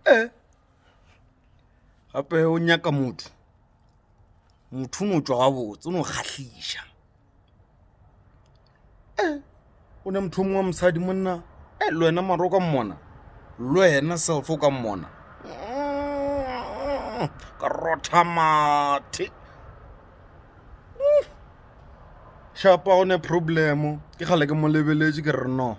e gape o nyaka motho motho o no tšwa gabotse o no kgahliša e o ne motho o mongwe wa mosadi monna e le wena maro ka mmona le wena selfo ka mmona mm, ka rotha mathe shapa o ne problemo ke gale ke mo lebeletše ke re no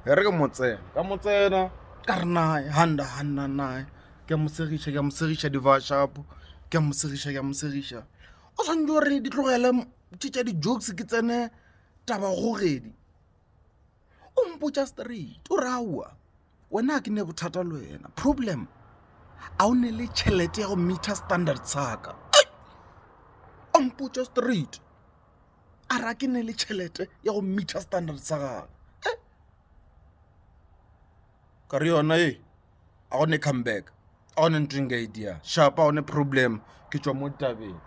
e re ke mo tsena ka mo tsena ka re nae handa handa nae ke a mo segiša ke a mo segiša di-washup-o ke a mo segiša ke a mo segiša o tshwanetse o re di tlogele tše tša di-jokes ke tsene taba kgogedi o mpotša straight o re aowa wena ga ke ne bothata le wena problem a o ne le tšhelete ya go meter standard saka o mpotša straight. a re a ke ne le tšhelete ya go mmitha standard sa gagwe ka re yona e a go ne come back a go ne ntho nka e dia shapa a go ne problem ke tswa mo tabeng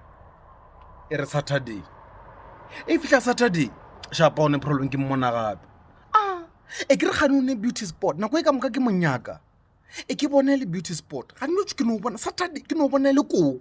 e re saturday e fitlha saturday shapa a go ne problem ke mmona gape a e ke re gane o ne beauty sport nako e ka moka ke monyaka e ke bone le beauty sport ga nno ke no bona saturday ke no bona le koko